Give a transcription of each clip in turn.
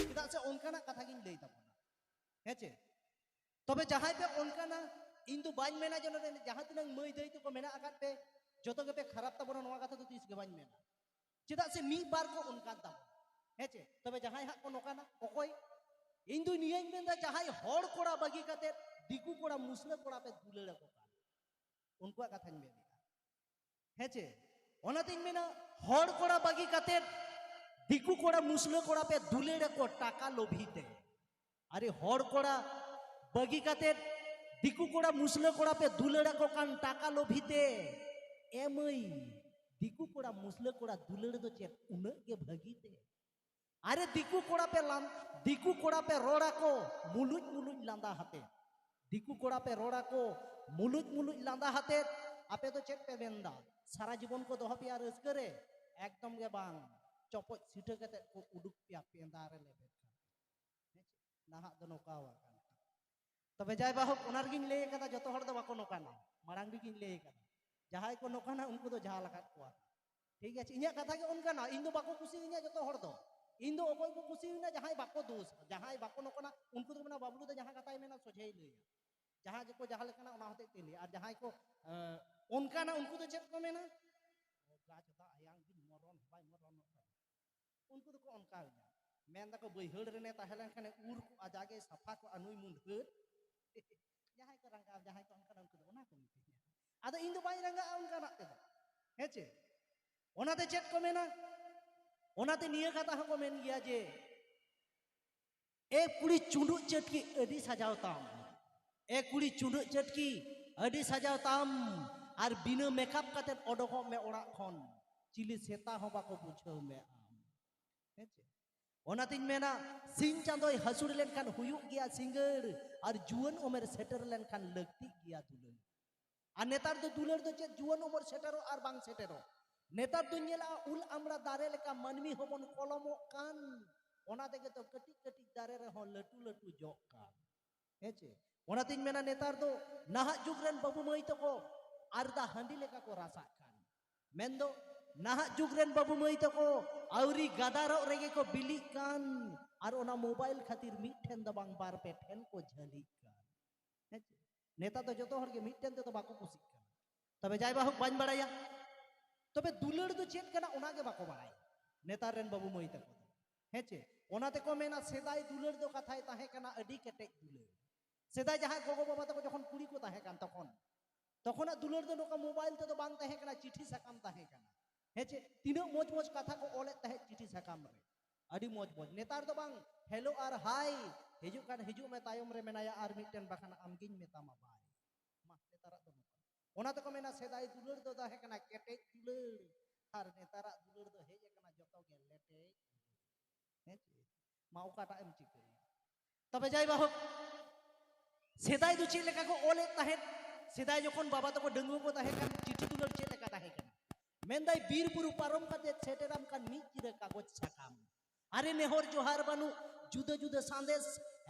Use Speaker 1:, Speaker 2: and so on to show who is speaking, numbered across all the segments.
Speaker 1: ᱪᱮᱫᱟᱜ ᱥᱮ ᱚᱱᱠᱟᱱᱟᱜ ᱠᱟᱛᱷᱟ ᱜᱤᱧ ᱞᱟᱹᱭ ᱛᱟᱵᱚᱱᱟ ᱦᱮᱸ ᱪᱮ ᱛᱚᱵᱮ ᱡᱟᱦᱟᱸᱭ ᱯᱮ ᱚᱱᱠᱟᱱᱟ ᱤᱧ ᱫᱚ ᱵᱟᱹᱧ ᱢᱮᱱᱟ ᱡᱮ ᱱᱚᱰᱮ ᱡᱟᱦᱟᱸ ᱛᱤᱱᱟᱹᱜ ᱢᱟᱹᱭ ᱫᱟᱹᱭ ᱛᱟᱠᱚ ᱢᱮᱱᱟᱜ ᱟᱠᱟᱫ ᱯᱮ ᱡᱚᱛᱚ ᱜᱮᱯᱮ ᱠᱷᱟᱨᱟᱯ ᱛᱟᱵᱚᱱᱟ ᱱᱚᱣᱟ ᱠᱟᱛᱷᱟ ᱫᱚ ᱛᱤᱥ ᱜᱮ ᱵᱟᱹᱧ ᱢᱮᱱᱟ ᱪᱮᱫᱟᱜ ᱥᱮ ᱢᱤᱫ ᱵᱟᱨ ᱠᱚ ᱚᱱᱠᱟᱱ ᱛᱟᱵᱚᱱᱟ ᱦᱮᱸ ᱪᱮ ᱛᱚᱵᱮ ᱡᱟᱦᱟᱸᱭ ᱦᱟᱸᱜ ᱠᱚ ᱱᱚᱝᱠᱟᱱᱟ ᱚᱠᱚᱭ ᱤᱧ ᱫᱚ ᱱᱤᱭᱟᱹᱧ ᱢᱮᱱᱫᱟ ᱡᱟᱦᱟᱸᱭ ᱦᱚᱲ ᱠᱚᱲᱟ ᱵᱟᱹᱜᱤ ᱠᱟᱛᱮ ᱫᱤᱠᱩ ᱠᱚᱲᱟ ᱢᱩᱥᱞᱟᱹ ᱠᱚᱲᱟ ᱯᱮ ᱫᱩᱞᱟᱹᱲ ᱟᱠᱚ ᱠᱟᱱ ᱩᱱᱠᱩᱣᱟᱜ ᱠᱟᱛᱷᱟᱧ ᱢᱮᱱᱟ ᱦᱮᱸ ᱪᱮ ᱚᱱᱟᱛᱤᱧ ᱢᱮᱱᱟ ᱦᱚᱲ ᱠᱚᱲᱟ ᱵᱟᱹᱜᱤ ᱠᱟᱛᱮ ᱫᱤᱠᱩ ᱠᱚᱲᱟ ᱢᱩᱥᱞᱟᱹ ᱠᱚᱲᱟ ᱯᱮ ᱫᱩᱞᱟᱹᱲ ᱟᱠᱚ ᱴᱟᱠᱟ ᱞᱳᱵᱷᱤ ᱛᱮ ᱟᱨᱮ ᱦᱚᱲ ᱠᱚᱲᱟ ᱵᱟᱹᱜᱤ ᱠᱟᱛᱮ ᱫᱤᱠᱩ ᱠᱚᱲᱟ ᱢᱩᱥᱞᱟᱹ ᱠᱚᱲᱟ ᱯᱮ ᱫᱩᱞᱟᱹᱲ ᱟᱠᱚ ᱠᱟᱱ ᱴᱟᱠᱟ ᱞᱳᱵᱷᱤ ᱛᱮ ᱮ ᱢᱟᱹᱭ ᱫᱤᱠᱩ ᱠᱚᱲᱟ ᱢᱩᱥᱞᱟᱹ ᱠᱚᱲᱟ ᱫᱩᱞᱟᱹᱲ ᱫᱚ ᱪᱮᱫ ᱩᱱᱟᱹᱜ ᱜᱮ ᱵᱷᱟᱹᱜᱤ ᱛᱮ ᱟᱨᱮ ᱫᱤᱠᱩ ᱠᱚᱲᱟ ᱯᱮ ᱞᱟᱱ ᱫᱤᱠᱩ ᱠᱚᱲᱟ ᱯᱮ ᱨᱚᱲᱟ ᱠᱚ ᱢᱩᱞᱩᱡ ᱢᱩᱞᱩᱡ ᱞᱟᱸᱫᱟ ᱦᱟᱛᱮ ᱫᱤᱠᱩ ᱠᱚᱲᱟ ᱯᱮ ᱨᱚᱲᱟ ᱠᱚ ᱢᱩᱞᱩᱡ ᱢᱩᱞᱩᱡ ᱞᱟᱸᱫᱟ ᱦᱟᱛᱮ ᱟᱯᱮ ᱫᱚ ᱪᱮᱫ ᱯᱮ ᱢᱮᱱᱫᱟ ᱥᱟᱨᱟ ᱡᱤᱵᱚᱱ ᱠᱚ ᱫᱚᱦᱚ ᱯᱮᱭᱟ ᱨᱟᱹᱥᱠᱟᱹ ᱨᱮ ᱮᱠᱫᱚᱢ ᱜᱮ ᱵᱟᱝ ᱪᱚᱯᱚᱡ ᱥᱤᱴᱷᱟᱹ ᱠᱟᱛᱮ ᱠᱚ ᱩᱰᱩᱠ ᱯᱮᱭᱟ ᱯᱮᱸᱫᱟ ᱨᱮ ᱞᱮᱵᱮᱫ ᱱᱟᱦᱟᱜ ᱫᱚ ᱱᱚᱝᱠᱟ ᱟᱠᱟᱱᱟ ᱛᱚᱵᱮ ᱡᱟᱭ ᱵᱟᱦᱚᱠ ᱚᱱᱟ ᱨᱮᱜᱤᱧ ᱞᱟᱹᱭ ᱟᱠᱟᱫᱟ ᱡᱚᱛᱚ ᱦᱚᱲ ᱫᱚ ᱵᱟᱠᱚ ᱱᱚᱠᱟᱱᱟ ᱢᱟᱲᱟᱝ ᱨᱮᱜᱤᱧ ᱞᱟᱹᱭ ᱟᱠᱟᱫᱟ ᱡᱟᱦᱟᱸᱭ ᱠᱚ ᱱᱚᱠᱟᱱᱟ ᱩᱱᱠᱩ ᱫᱚ ᱡᱟᱦᱟᱸ ᱞᱟᱠᱟᱫ ᱠᱚᱣᱟ ᱴᱷᱤᱠ ᱟᱪᱷᱮ ᱤᱧᱟᱹᱜ ᱠᱟᱛᱷᱟ ᱜᱮ ᱚᱱᱠᱟᱱᱟ ᱤᱧ ᱫᱚ ᱵᱟᱠᱚ ᱠᱩᱥᱤᱭᱟᱹᱧᱟ ᱡᱚᱛᱚ ᱦᱚᱲ ᱫᱚ ᱤᱧ ᱫᱚ ᱚᱠᱚᱭ ᱠᱚ ᱠᱩᱥᱤᱭᱟᱹᱧᱟ ᱡᱟᱦᱟᱸᱭ ᱵᱟᱠᱚ ᱫᱳᱥ ᱡᱟᱦᱟᱸᱭ ᱵᱟᱠᱚ ᱱᱚᱠᱟᱱᱟ ᱩᱱᱠᱩ ᱫᱚ ᱢᱮᱱᱟ ᱵᱟᱵᱞᱩ ᱫᱚ ᱡᱟᱦᱟᱸ ᱠᱟᱛᱷᱟᱭ ᱢᱮᱱᱟ ᱥᱚᱡᱷᱮᱭ ᱞᱟᱹᱭᱟ ᱡᱟᱦᱟᱸ ᱜᱮᱠᱚ ᱡᱟᱦᱟᱸ ᱞᱮᱠᱟᱱᱟ ᱚᱱᱟ ᱦᱚᱛᱮᱡ ᱛᱮ ᱞᱟᱹᱭᱟ ᱟᱨ ᱡᱟᱦᱟᱸᱭ ᱠᱚ ᱚᱱᱠᱟᱱᱟ ᱩᱱᱠᱩ ᱫᱚ ᱪᱮᱫ ᱠᱚ ᱢᱮᱱᱟ ᱜᱟᱪᱷ ᱫᱚ ᱟᱭᱟᱝ ᱜᱤᱧ ᱢᱚᱨᱚᱱ ᱵᱟᱭ ᱢᱚᱨᱚᱱᱚᱜ ᱠᱟᱱᱟ ᱩᱱᱠᱩ ᱫᱚᱠᱚ ᱚᱱᱠᱟᱣᱮᱱᱟ ᱢᱮᱱ ᱫᱟᱠᱚ ᱵᱟᱹᱭᱦᱟᱹᱲ ᱨᱮᱱᱮ ᱛᱟᱦᱮᱸ ᱞᱮᱱᱠᱷᱟᱱᱮ ᱩᱨ ᱠᱚᱜᱼᱟ ᱡᱟᱜᱮ ᱥᱟᱯᱷᱟ ᱠᱚᱜᱼᱟ ᱱᱩᱭ ᱢᱩᱱᱰᱷᱟᱹᱨ ᱡᱟᱦᱟᱸᱭ ᱠᱚ ᱨᱟᱸᱜᱟᱣ ᱡᱟᱦᱟᱸᱭ ᱠᱚ ᱚᱱᱠᱟᱱᱟ ᱩᱱᱠᱩ ᱫᱚ ᱚᱱᱟ ᱠᱚ ᱢᱤᱛᱟᱹᱧᱟ ᱟᱫᱚ ᱤᱧ ᱫᱚ ᱵᱟᱹᱧ ᱨᱟᱸᱜᱟᱜᱼᱟ ᱚᱱᱠᱟᱱᱟᱜ ᱛᱮᱫᱚ ᱦᱮᱸ ᱪᱮ ᱚᱱᱟᱛᱮ ᱪᱮᱫ ᱠᱚ ᱢᱮᱱᱟ ᱚᱱᱟᱛᱮ ᱱᱤᱭᱟᱹ ᱠᱟᱛᱷᱟ ᱦᱚᱸᱠᱚ ᱢᱮᱱ ᱜᱮᱭᱟ ᱡᱮ ᱮ ᱠᱩᱲᱤ ᱪᱩᱸᱰᱩᱜ ᱪᱟᱹᱴᱠᱤ ᱟᱹᱰᱤ ᱥᱟᱡᱟᱣ ᱛᱟᱢ ᱮ ᱠᱩᱲᱤ ᱪᱩᱸᱰᱩᱜ ᱪᱟᱹᱴᱠᱤ ᱟᱹᱰᱤ ᱥᱟᱡᱟᱣ ᱛᱟᱢ ᱟᱨ ᱵᱤᱱᱟᱹ ᱢᱮᱠᱟᱯ ᱠᱟᱛᱮ ᱚᱰᱚᱠᱚᱜ ᱢᱮ ᱚᱲᱟᱜ ᱠᱷᱚᱱ ᱪᱤᱞᱤ ᱥᱮᱛᱟ ᱦᱚᱸ ᱵᱟᱠᱚ ᱵᱩᱡᱷᱟᱹᱣ ᱢᱮ ᱟᱢ ᱦᱮᱸᱪᱮ ᱚᱱᱟᱛᱤᱧ ᱢᱮᱱᱟ ᱥᱤᱧ ᱪᱟᱸᱫᱚᱭ ᱦᱟᱹᱥᱩᱲ ᱞᱮᱱᱠᱷᱟᱱ ᱦᱩᱭᱩᱜ ᱜᱮᱭᱟ ᱥᱤᱸᱜᱟᱹᱲ ᱟᱨ ᱡᱩᱣᱟᱹᱱ ᱩᱢᱮᱨ ᱥᱮᱴᱮᱨ ᱞᱮᱱᱠᱷᱟᱱ ᱞᱟᱹᱠᱛᱤᱜ ᱜᱮᱭᱟ ᱫᱩᱞᱟᱹᱲ ᱟᱨ ᱱᱮᱛᱟᱨ ᱫᱚ ᱫᱩᱞᱟᱹᱲ ᱫᱚ ᱪᱮᱫ ᱡᱩᱣᱟᱹᱱ ᱩᱢᱮᱨ ᱥᱮᱴᱮᱨᱚᱜ ᱟᱨ ᱵᱟᱝ ᱥᱮᱴᱮᱨᱚᱜ ᱱᱮᱛᱟᱨ ᱫᱚᱧ ᱧᱮᱞᱟ ᱩᱞ ᱟᱢᱲᱟ ᱫᱟᱨᱮ ᱞᱮᱠᱟ ᱢᱟᱹᱱᱢᱤ ᱦᱚᱸᱵᱚᱱ ᱠᱚᱞᱚᱢᱚᱜ ᱠᱟᱱ ᱚᱱᱟ ᱛᱮᱜᱮ ᱛᱚ ᱠᱟᱹᱴᱤᱡ ᱠᱟᱹᱴᱤᱡ ᱫᱟᱨᱮ ᱨᱮᱦᱚᱸ ᱞᱟᱹᱴᱩ ᱞᱟᱹᱴᱩ ᱡᱚᱜ ᱠᱟᱱ ᱦᱮᱸ ᱪᱮ ᱚᱱᱟᱛᱤᱧ ᱢᱮᱱᱟ ᱱᱮᱛᱟᱨ ᱫᱚ ᱱᱟᱦᱟᱜ ᱡᱩᱜᱽ ᱨᱮᱱ ᱵᱟᱹᱵᱩ ᱢᱟᱹᱭ ᱛᱟᱠᱚ ᱟᱨᱫᱟ ᱦᱟᱺᱰᱤ ᱞᱮᱠᱟ ᱠᱚ ᱨᱟᱥᱟᱜ ᱠᱟᱱ ᱢᱮᱱᱫᱚ ᱱᱟᱦᱟᱜ ᱡᱩᱜᱽ ᱨᱮᱱ ᱵᱟᱹᱵᱩ ᱢᱟᱹᱭ ᱛᱟᱠᱚ ᱟᱹᱣᱨᱤ ᱜᱟᱫᱟᱨᱚᱜ ᱨᱮᱜᱮ ᱠᱚ ᱵᱤᱞᱤᱜ ᱠᱟᱱ ᱟᱨ ᱚᱱᱟ ᱢᱳᱵᱟᱭᱤᱞ ᱠᱷᱟᱹᱛᱤᱨ ᱢᱤᱫ ᱴᱷᱮᱱ ᱫᱚ ᱵᱟᱝ ᱵᱟᱨ ᱯᱮ ᱴᱷᱮᱱ ᱠᱚ ᱡᱷᱟᱹᱞᱤᱜ ᱠᱟᱱ ᱱᱮᱛᱟᱨ ᱫᱚ ᱡᱚᱛᱚ ᱦᱚᱲ ᱜᱮ ᱢᱤᱫᱴᱮᱱ ᱛᱮᱫᱚ ᱵᱟᱠᱚ ᱠᱩᱥᱤᱜ ᱠᱟᱱᱟ ᱛᱚᱵᱮ ᱡᱟᱭ ᱵᱟᱦᱩᱠ ᱵᱟᱹᱧ ᱵᱟᱲᱟᱭᱟ ᱛᱚᱵᱮ ᱫᱩᱞᱟᱹᱲ ᱫᱚ ᱪᱮᱫ ᱠᱟᱱᱟ ᱚᱱᱟ ᱜᱮ ᱵᱟᱠᱚ ᱵᱟᱲᱟᱭᱟ ᱱᱮᱛᱟᱨ ᱨᱮᱱ ᱵᱟᱹᱵᱩ ᱢᱟᱹᱭ ᱛᱟᱠᱚ ᱫᱚ ᱦᱮᱸ ᱪᱮ ᱚᱱᱟ ᱛᱮᱠᱚ ᱢᱮᱱᱟ ᱥᱮᱫᱟᱭ ᱫᱩᱞᱟᱹᱲ ᱫᱚ ᱠᱟᱛᱷᱟᱭ ᱛᱟᱦᱮᱸ ᱠᱟᱱᱟ ᱟᱹᱰᱤ ᱠᱮᱴᱮᱡ ᱫᱩᱞᱟᱹᱲ ᱥᱮᱫᱟᱭ ᱡᱟᱦᱟᱸᱭ ᱜᱚᱜᱚ ᱵᱟᱵᱟ ᱛᱟᱠᱚ ᱡᱚᱠᱷᱚᱱ ᱠᱩᱲᱤ ᱠᱚ ᱛᱟᱦᱮᱸ ᱠᱟᱱ ᱛᱚᱠᱷᱚᱱ ᱛᱚᱠᱷᱚᱱᱟᱜ ᱫᱩᱞᱟᱹᱲ ᱫᱚ ᱱᱚᱝᱠᱟ ᱢᱳᱵᱟᱭᱤᱞ ᱛᱮᱫᱚ ᱵᱟᱝ ᱛᱟᱦᱮᱸ ᱠᱟᱱᱟ ᱪᱤᱴᱷᱤ ᱥᱟᱠᱟᱢ ᱛᱟᱦᱮᱸ ᱠᱟᱱᱟ ᱦᱮᱸ ᱪᱮ ᱛᱤᱱᱟᱹᱜ ᱢᱚᱡᱽ ᱢᱚᱡᱽ ᱠᱟᱛᱷᱟ ᱠᱚ ᱚᱞᱮᱫ ᱛᱟᱦᱮᱸᱫ ᱪᱤᱴᱷᱤ ᱥᱟᱠᱟᱢ ᱨᱮ ᱟᱹᱰᱤ ᱢᱚᱡᱽ ᱢᱚᱡᱽ ᱱᱮᱛᱟᱨ ᱫᱚ ᱵᱟᱝ ᱦᱮᱞᱳ ᱟᱨ ᱦᱟᱭ ᱦᱤᱡᱩᱜ ᱠᱟᱱ ᱦᱤᱡᱩᱜ ᱢᱮ ᱛᱟᱭᱚᱢ ᱨᱮ ᱢᱮᱱᱟᱭᱟ ᱟᱨ ᱢᱤᱫᱴᱮᱱ ᱵᱟᱠᱷᱟᱱ ᱟᱢᱜᱤᱧ ᱢᱮᱛᱟᱢᱟ ᱵᱟᱭ ᱢᱟ ᱱᱮᱛᱟᱨᱟᱜ ᱫᱚ ᱱᱚᱝᱠᱟ ᱚᱱᱟ ᱛᱮᱠᱚ ᱢᱮᱱᱟ ᱥᱮᱫᱟᱭ ᱫᱩᱞᱟᱹᱲ ᱫᱚ ᱛᱟᱦᱮᱸ ᱠᱟᱱᱟ ᱠᱮᱴᱮᱡ ᱫᱩᱞᱟᱹᱲ ᱟᱨ ᱱᱮᱛᱟᱨᱟᱜ ᱫᱩᱞᱟᱹᱲ ᱫᱚ ᱦᱮᱡ ᱟᱠᱟᱱᱟ ᱡᱚᱛᱚ ᱜᱮ ᱞᱮᱴᱮᱡ ᱦᱮᱸ ᱢᱟ ᱚᱠᱟᱴᱟᱜ ᱮᱢ ᱪᱤᱠᱟᱹᱭᱟ ᱛᱚᱵᱮ ᱡᱟᱭ ᱵᱟᱦᱳᱠ ᱥᱮᱫᱟᱭ ᱫᱚ ᱪᱮᱫ ᱞᱮᱠᱟ ᱠᱚ ᱚᱞᱮᱫ ᱛᱟᱦᱮᱸᱫ ᱥᱮᱫᱟᱭ ᱡᱚᱠᱷᱚᱱ ᱵᱟᱵᱟ ᱛᱟᱠᱚ ᱰᱟᱺᱜᱩᱣᱟᱹ ᱠᱚ ᱛᱟᱦᱮᱸ ᱠᱟᱱ ᱪᱤᱴᱷᱤ ᱫᱩᱞᱟᱹᱲ ᱪᱮᱫ ᱞᱮᱠᱟ ᱛᱟᱦᱮᱸ ᱠᱟᱱᱟ ᱢᱮᱱᱫᱟᱭ ᱵᱤᱨ ᱵᱩᱨᱩ ᱯᱟᱨᱚᱢ ᱠᱟᱛᱮ ᱥᱮᱴᱮᱨᱟᱢ ᱠᱟᱱ ᱢᱤᱫ ᱪᱤᱨᱟᱹ ᱠᱟᱜᱚᱡᱽ ᱥᱟᱠᱟᱢ ᱟᱨᱮ ᱱᱮᱦᱚᱨ ᱡᱚᱦᱟᱨ ᱵᱟᱹᱱᱩᱜ ᱡᱩᱫᱟᱹ ᱡᱩᱫᱟᱹ ᱥᱟᱸᱫᱮᱥ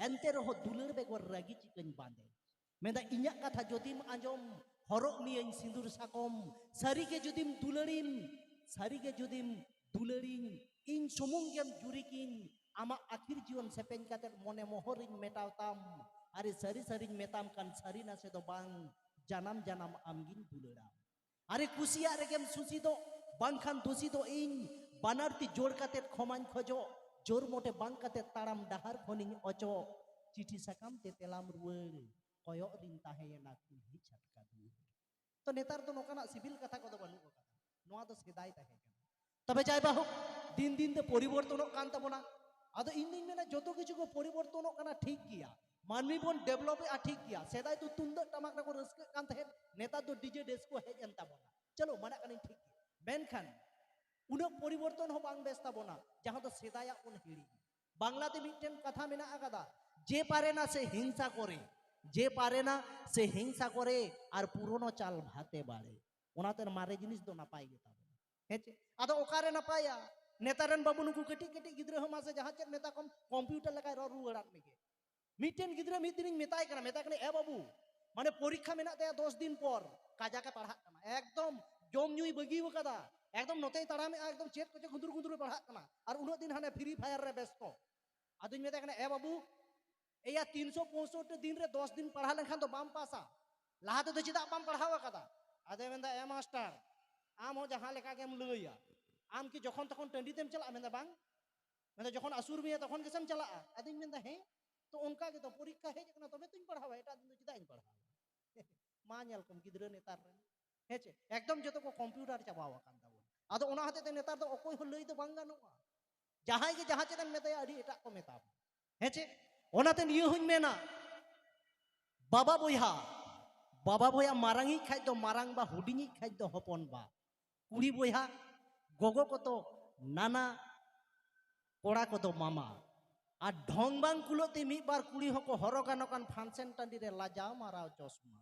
Speaker 1: ᱮᱱᱛᱮ ᱨᱮᱦᱚᱸ ᱫᱩᱞᱟᱹᱲ ᱵᱮᱜᱚᱨ ᱨᱟᱹᱜᱤ ᱪᱤᱠᱟᱹᱧ ᱵᱟᱸᱫᱮ ᱢᱮᱱᱫᱟ ᱤᱧᱟᱹᱜ ᱠᱟᱛᱷᱟ ᱡᱩᱫᱤᱢ ᱟᱸᱡᱚᱢ ᱦᱚᱨᱚᱜ ᱢᱤᱭᱟᱹᱧ ᱥᱤᱸᱫᱩᱨ ᱥᱟᱠᱚᱢ ᱥᱟᱹᱨᱤᱜᱮ ᱡᱩᱫᱤᱢ ᱫᱩᱞᱟᱹᱲᱤᱢ ᱥᱟᱹᱨᱤᱜᱮ ᱡᱩᱫᱤᱢ ᱫᱩᱞᱟᱹᱲᱤᱧ ᱤᱧ ᱥᱩᱢᱩᱝ ᱜᱮᱢ ᱡᱩᱨᱤ ᱠᱤᱧ ᱟᱢᱟᱜ ᱟᱹᱠᱷᱤᱨ ᱡᱤᱭᱚᱱ ᱥᱮᱯᱮᱧ ᱠᱟᱛᱮ ᱢᱚᱱᱮ ᱢᱚᱦᱚᱨᱤᱧ ᱢᱮᱴᱟᱣ ᱛᱟᱢ ᱟᱨᱮ ᱥᱟᱹᱨᱤ ᱥᱟᱹᱨᱤᱧ ᱢᱮᱛᱟᱢ ᱠᱟᱱ ᱥᱟᱹᱨᱤ ᱱᱟᱥᱮ ᱫᱚ ᱵᱟᱝ ᱡᱟᱱᱟᱢ ᱡᱟᱱᱟᱢ ᱟᱢᱜᱤᱧ ᱫᱩᱞᱟᱹᱲᱟᱢ ᱟᱨᱮ ᱠᱩᱥᱤᱭᱟᱜ ᱨᱮᱜᱮᱢ ᱥᱩᱥᱤ ᱫᱚ ᱵᱟᱝᱠᱷᱟᱱ ᱫᱩᱥᱤ ᱫᱚ ᱤᱧ ᱵᱟᱱᱟᱨ ᱛᱤ ᱡᱳᱲ ᱠᱟᱛᱮ ᱠᱷᱚᱢᱟᱧ ᱠᱷᱚᱡᱚᱜ ᱡᱳᱨ ᱢᱚᱴᱮ ᱵᱟᱝ ᱠᱟᱛᱮ ᱛᱟᱲᱟᱢ ᱰᱟᱦᱟᱨ ᱠᱷᱚᱱᱤᱧ ᱚᱪᱚᱜ ᱪᱤᱴᱷᱤ ᱥᱟᱠᱟᱢ ᱛᱮ ᱛᱮᱞᱟᱢ ᱨᱩᱣᱟᱹᱲ ᱠᱚᱭᱚᱜ ᱨᱤᱧ ᱛᱟᱦᱮᱸᱭᱮᱱᱟ ᱠᱩᱞᱦᱤ ᱪᱷᱟᱴᱠᱟ ᱫᱩᱣᱟᱹᱨ ᱛᱚ ᱱᱮᱛᱟᱨ ᱫᱚ ᱱᱚᱝᱠᱟᱱᱟᱜ ᱥᱤᱵᱤᱞ ᱠᱟᱛᱷᱟ ᱠᱚᱫᱚ ᱵᱟᱹᱱᱩᱜ ᱟᱠᱟᱫᱟ ᱱᱚᱣᱟ ᱫᱚ ᱥᱮᱫᱟᱭ ᱛᱟᱦᱮᱸ ᱠᱟᱱᱟ ᱛᱚᱵᱮ ᱡᱟᱭ ᱵᱟᱦᱩ ᱫᱤᱱ ᱫᱤᱱ ᱛᱮ ᱯᱚᱨᱤᱵᱚᱨᱛᱚᱱᱚᱜ ᱠᱟᱱ ᱛᱟᱵᱚᱱᱟ ᱟᱫᱚ ᱤᱧ ᱫᱩᱧ ᱢᱮᱱᱟ ᱡᱚᱛᱚ ᱠᱤᱪᱷᱩ ᱠᱚ ᱯᱚᱨᱤᱵᱚᱨᱛᱚᱱᱚᱜ ᱠᱟᱱᱟ ᱴᱷᱤᱠ ᱜᱮᱭᱟ ᱢᱟᱹᱱᱢᱤ ᱵᱚᱱ ᱰᱮᱵᱷᱞᱚᱯ ᱮᱫᱟ ᱴᱷᱤᱠ ᱜᱮᱭᱟ ᱥᱮᱫᱟᱭ ᱫᱚ ᱛᱩᱢᱫᱟᱜ ᱴᱟᱢᱟᱠ ᱨᱮᱠᱚ ᱨᱟᱹᱥᱠᱟᱹᱜ ᱠᱟᱱ ᱛᱟᱦᱮᱸᱫ ᱱᱮᱛᱟᱨ ᱫᱚ ᱰᱤᱡᱮ ᱰᱮᱥ ᱠᱚ ᱦᱮᱡ ᱮᱱ ᱛᱟᱵᱚᱱᱟ ᱪᱚᱞᱚ ᱢᱟᱱᱟᱜ ᱠᱟᱹᱱᱟᱹᱧ ᱴᱷᱤᱠ ᱜᱮᱭᱟ ᱢᱮᱱᱠᱷᱟᱱ ᱩᱱᱟᱹᱜ ᱯᱚᱨᱤᱵᱚᱨᱛᱚᱱ ᱦᱚᱸ ᱵᱟᱝ ᱵᱮᱥ ᱛᱟᱵᱚᱱᱟ ᱡᱟᱦᱟᱸ ᱫᱚ ᱥᱮᱫᱟᱭᱟᱜ ᱵᱚᱱ ᱦᱤᱲᱤᱧ ᱵᱟᱝᱞᱟᱛᱮ ᱢᱤᱫᱴᱮᱱ ᱠᱟᱛᱷᱟ ᱢᱮᱱᱟᱜ ᱟᱠᱟᱫᱟ ᱡᱮ ᱯᱟᱨᱮᱱᱟ ᱥᱮ ᱦᱤᱝᱥᱟ ᱠᱚᱨᱮ ᱡᱮ ᱯᱟᱨᱮᱱᱟ ᱥᱮ ᱦᱤᱝᱥᱟ ᱠᱚᱨᱮ ᱟᱨ ᱯᱩᱨᱚᱱᱚ ᱪᱟᱞ ᱵᱷᱟᱛᱮ ᱵᱟᱲᱮ ᱚᱱᱟᱛᱮ ᱢᱟᱨᱮ ᱡᱤᱱᱤᱥ ᱫᱚ ᱱᱟᱯᱟᱭ ᱜᱮᱛᱟ ᱦᱮᱸ ᱪᱮ ᱟᱫᱚ ᱚᱠᱟᱨᱮ ᱱᱟᱯᱟᱭᱟ ᱱᱮᱛᱟᱨ ᱨᱮᱱ ᱵᱟᱹᱵᱩ ᱱᱩᱠᱩ ᱠᱟᱹᱴᱤᱡ ᱠᱟᱹᱴᱤᱡ ᱜᱤᱫᱽᱨᱟᱹ ᱦᱚᱸ ᱢᱟᱥᱮ ᱡᱟᱦᱟᱸ ᱪᱮᱫ ᱢᱮᱛᱟ ᱠᱚᱢ ᱠᱚᱢᱯᱤᱭᱩᱴᱟᱨ ᱞᱮᱠᱟᱭ ᱨᱚᱲ ᱨᱩᱣᱟᱹᱲᱟᱫ ᱢᱮᱜᱮ ᱢᱤᱫᱴᱮᱱ ᱜᱤᱫᱽᱨᱟᱹ ᱢᱤᱫ ᱫᱤᱱᱤᱧ ᱢᱮᱛᱟᱭ ᱠᱟᱱᱟ ᱢᱮᱛᱟᱭ ᱠᱟᱱᱟ ᱮ ᱵᱟᱹᱵᱩ ᱢᱟᱱᱮ ᱯᱚᱨᱤᱠᱠᱷᱟ ᱢᱮᱱᱟᱜ ᱛᱟᱭᱟ ᱫᱚᱥ ᱫᱤᱱ ᱯᱚᱨ ᱠᱟᱡᱟᱠᱮ ᱯᱟᱲᱦᱟᱜ ᱠᱟᱱᱟ ᱮᱠᱫᱚᱢ ᱡᱚᱢ ᱧᱩᱭ ᱵᱟᱹᱜᱤ ᱟᱠᱟᱫᱟ ᱮᱠᱫᱚᱢ ᱱᱚᱛᱮᱭ ᱛᱟᱲᱟᱢᱮᱜᱼᱟ ᱮᱠᱫᱚᱢ ᱪᱮᱫ ᱠᱚᱪᱚ ᱜᱩᱸᱫᱩᱨ ᱜᱩᱸᱫᱩᱨ ᱯᱟᱲᱦᱟᱜ ᱠᱟᱱᱟ ᱟᱨ ᱩᱱᱟᱹᱜ ᱫᱤᱱ ᱦᱟᱱᱮ ᱯᱷᱨᱤ ᱯᱷᱟᱭᱟᱨ ᱨᱮ ᱵᱮᱥᱛᱚ ᱟᱫᱚᱧ ᱢᱮᱛᱟᱭ ᱠᱟᱱᱟ ᱮ ᱵᱟᱹᱵᱩ ᱮᱭᱟ ᱛᱤᱱᱥᱚ ᱯᱚᱸᱭᱥᱚᱴᱴᱤ ᱫᱤᱱ ᱨᱮ ᱫᱚᱥ ᱫᱤᱱ ᱯᱟᱲᱦᱟᱣ ᱞᱮᱱᱠᱷᱟᱱ ᱫᱚ ᱵᱟᱢ ᱯᱟᱥᱟ ᱞᱟᱦᱟ ᱛᱮᱫᱚ ᱪᱮᱫᱟᱜ ᱵᱟᱢ ᱯᱟᱲᱦᱟᱣ ᱟᱠᱟᱫᱟ ᱟᱫᱚᱭ ᱢᱮᱱᱫᱟ ᱮ ᱢᱟᱥᱴᱟᱨ ᱟᱢ ᱦᱚᱸ ᱡᱟᱦᱟᱸ ᱞᱮᱠᱟ ᱜᱮᱢ ᱞᱟᱹᱭᱟ ᱟᱢ ᱠᱤ ᱡᱚᱠᱷᱚᱱ ᱛᱚᱠᱷᱚᱱ ᱴᱟᱺᱰᱤ ᱛᱮᱢ ᱪᱟᱞᱟᱜᱼᱟ ᱢᱮᱱᱫᱟ ᱵᱟᱝ ᱢᱮᱱᱫᱟ ᱡᱚᱠᱷᱚᱱ ᱟᱹᱥᱩᱨ ᱢᱮᱭᱟ ᱛᱚᱠᱷᱚᱱ ᱜᱮᱥᱮᱢ ᱪᱟᱞᱟᱜᱼᱟ ᱟᱫᱚᱧ ᱢᱮᱱᱫᱟ ᱦᱮᱸ ᱛᱚ ᱚᱱᱠᱟ ᱜᱮᱛᱚ ᱯᱚᱨᱤᱠᱠᱷᱟ ᱦᱮᱡ ᱟᱠᱟᱱᱟ ᱛᱚᱵᱮ ᱛᱚᱧ ᱯᱟᱲᱦᱟᱣᱟ ᱮᱴᱟᱜ ᱫᱤᱱ ᱫᱚ ᱪᱮᱫᱟᱜ ᱤᱧ ᱯᱟᱲᱦᱟᱣᱟ ᱢᱟ ᱧᱮᱞ ᱠᱚᱢ ᱜᱤᱫᱽᱨᱟᱹ ᱱᱮᱛᱟᱨ ᱨᱮᱱ ᱦᱮᱸ ᱪᱮ ᱮᱠᱫᱚᱢ ᱡᱚᱛᱚ ᱠᱚ ᱠᱚᱢᱯᱤᱭᱩᱴᱟᱨ ᱪᱟᱵᱟᱣ ᱟᱠᱟᱱ ᱛᱟᱵᱚᱱ ᱟᱫᱚ ᱚᱱᱟ ᱦᱚᱛᱮᱡ ᱛᱮ ᱱᱮᱛᱟᱨ ᱫᱚ ᱚᱠᱚᱭ ᱦᱚᱸ ᱞᱟᱹᱭ ᱫᱚ ᱵᱟᱝ ᱜᱟᱱᱚᱜᱼᱟ ᱡᱟᱦᱟᱸᱭ ᱜᱮ ᱡᱟᱦᱟᱸ ᱪᱮᱫ ᱮᱢ ᱢᱮᱛᱟᱭᱟ ᱟᱹᱰᱤ ᱮᱴᱟᱜ ᱠᱚ ᱢᱮᱛᱟᱢᱟ ᱦᱮᱸ ᱪᱮ ᱚᱱᱟᱛᱮ ᱱᱤᱭᱟᱹ ᱦᱚᱧ ᱢᱮᱱᱟ ᱵᱟᱵᱟ ᱵᱚᱭᱦᱟ ᱵᱟᱵᱟ ᱵᱚᱭᱦᱟ ᱢᱟᱨᱟᱝᱤᱡ ᱠᱷᱟᱡ ᱫᱚ ᱢᱟᱨᱟᱝ ᱵᱟ ᱦᱩᱰᱤᱧᱤᱡ ᱠᱷᱟᱡ ᱫᱚ ᱦᱚᱯᱚᱱ ᱵᱟ ᱠᱩᱲᱤ ᱵᱚᱭᱦᱟ ᱜᱚᱜᱚ ᱠᱚᱫᱚ ᱱᱟᱱᱟ ᱠᱚᱲᱟ ᱠᱚᱫᱚ ᱢᱟᱢᱟ ᱟᱨ ᱰᱷᱚᱝ ᱵᱟᱝ ᱠᱩᱞᱟᱹᱜ ᱛᱮ ᱢᱤᱫ ᱵᱟᱨ ᱠᱩᱲᱤ ᱦᱚᱸᱠᱚ ᱦᱚᱨᱚᱜᱟ ᱱᱚᱝᱠᱟᱱ ᱯᱷᱟᱱᱥᱮᱱ ᱴᱟᱺᱰᱤ ᱨᱮ ᱞᱟᱡᱟᱣ ᱢᱟᱨᱟᱣ ᱪᱚᱥᱢᱟ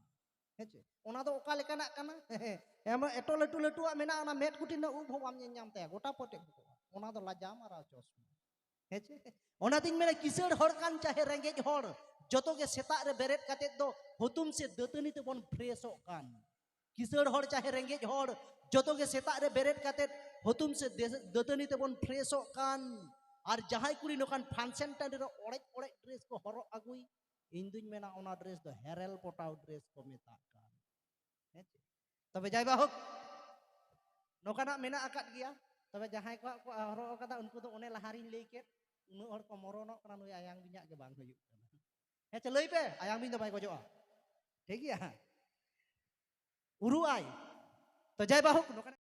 Speaker 1: ᱦᱮᱸ ᱪᱮ ᱚᱱᱟ ᱫᱚ ᱚᱠᱟ ᱞᱮᱠᱟᱱᱟᱜ ᱠᱟᱱᱟ ᱮᱢ ᱮᱴᱚ ᱞᱟᱹᱴᱩ ᱞᱟᱹᱴᱩᱣᱟᱜ ᱢᱮᱱᱟᱜᱼᱟ ᱚᱱᱟ ᱢᱮᱫ ᱠᱩᱴᱤ ᱨᱮᱱᱟᱜ ᱩᱵ ᱦᱚᱸ ᱵᱟᱢ ᱧᱮᱞ ᱧᱟᱢ ᱛᱟᱭᱟ ᱜᱚᱴᱟ ᱯᱚᱴᱮᱡ ᱵᱚᱠᱚᱜᱼᱟ ᱚᱱᱟ ᱫᱚ ᱞᱟᱡᱟᱣ ᱢᱟᱨᱟᱣ ᱪᱚᱥᱢᱟ ᱦᱮᱸ ᱪᱮ ᱚᱱᱟᱛᱤᱧ ᱢᱮᱱᱟ ᱠᱤᱥᱟᱹᱬ ᱦᱚᱲ ᱠᱟᱱ ᱪᱟᱦᱮ ᱨᱮᱸᱜᱮᱡ ᱦᱚᱲ ᱡᱚᱛᱚ ᱜᱮ ᱥᱮᱛᱟᱜ ᱨᱮ ᱵᱮᱨᱮᱫ ᱠᱟᱛᱮᱫ ᱫᱚ ᱦᱩᱛᱩᱢ ᱥᱮ ᱫᱟᱹᱛᱟᱹᱱᱤ ᱛᱮᱵᱚᱱ ᱯᱷᱨᱮᱥᱚᱜ ᱠᱟᱱ ᱠᱤᱥᱟᱹᱬ ᱦᱚᱲ ᱪᱟᱦᱮ ᱨᱮᱸᱜᱮᱡ ᱦᱚᱲ ᱡᱚᱛᱚ ᱜᱮ ᱥᱮᱛᱟᱜ ᱨᱮ ᱵᱮᱨᱮᱫ ᱠᱟᱛᱮᱫ ᱦᱩᱛᱩᱢ ᱥᱮ ᱫᱟᱹᱛᱟᱹᱱᱤ ᱛᱮᱵᱚᱱ ᱯᱷᱨᱮᱥᱚᱜ ᱠᱟᱱ ᱟᱨ ᱡᱟᱦᱟᱸᱭ ᱠᱩᱲᱤ ᱱᱚᱝᱠᱟᱱ ᱯᱷᱟᱱᱥᱮᱱ ᱴᱟᱺᱰᱤ ᱨᱮ ᱚᱲᱮᱡ ᱚᱲᱮᱡ ᱰᱨᱮᱥ ᱠᱚ ᱦᱚᱨᱚᱜ ᱟᱹᱜᱩᱭ ᱤᱧ ᱫᱩᱧ ᱢᱮᱱᱟ ᱚᱱᱟ ᱰᱨᱮᱥ ᱫᱚ ᱦᱮᱨᱮᱞ ᱯᱚᱴᱟᱣ ᱰᱨᱮᱥ ᱠᱚ ᱢᱮᱛᱟᱜ ᱠᱟᱱ ᱦᱮᱸ ᱛᱚᱵᱮ ᱡᱟᱭ ᱵᱟᱦᱳᱠ ᱱᱚᱝᱠᱟᱱᱟᱜ ᱢᱮᱱᱟᱜ ᱟᱠᱟᱫ ᱜᱮᱭᱟ ᱛᱚᱵᱮ ᱡᱟᱦᱟᱸᱭ ᱠᱚᱣᱟᱜ ᱠᱚ ᱦᱚᱨᱚᱜ ᱟᱠᱟᱫᱟ ᱩᱱᱠᱩ ᱫᱚ ᱚᱱᱮ ᱞᱟᱦᱟᱨᱤᱧ ᱞᱟᱹᱭ ᱠᱮᱫ ᱩᱱᱟᱹᱜ ᱦᱚᱲ ᱠᱚ ᱢᱚᱨᱚᱱᱚᱜ ᱠᱟᱱᱟ ᱱᱩᱭ ᱟᱭᱟᱝ ᱵᱤᱧᱟᱜ ᱜᱮ ᱵᱟᱝ ᱦᱩᱭᱩᱜ ᱠᱟᱱᱟ ᱦᱮᱸ ᱪᱮ ᱞᱟᱹᱭ ᱯᱮ ᱟᱭᱟᱝ ᱵᱤᱧ ᱫᱚ ᱵᱟᱭ ᱜᱚᱡᱚᱜᱼᱟ ᱴᱷᱤᱠ ᱜᱮᱭᱟ ᱩᱨᱩᱜ ᱟᱭ ᱛᱚ ᱡᱟᱭ ᱵᱟᱦᱳᱠ ᱱᱚᱝᱠᱟᱱᱟᱜ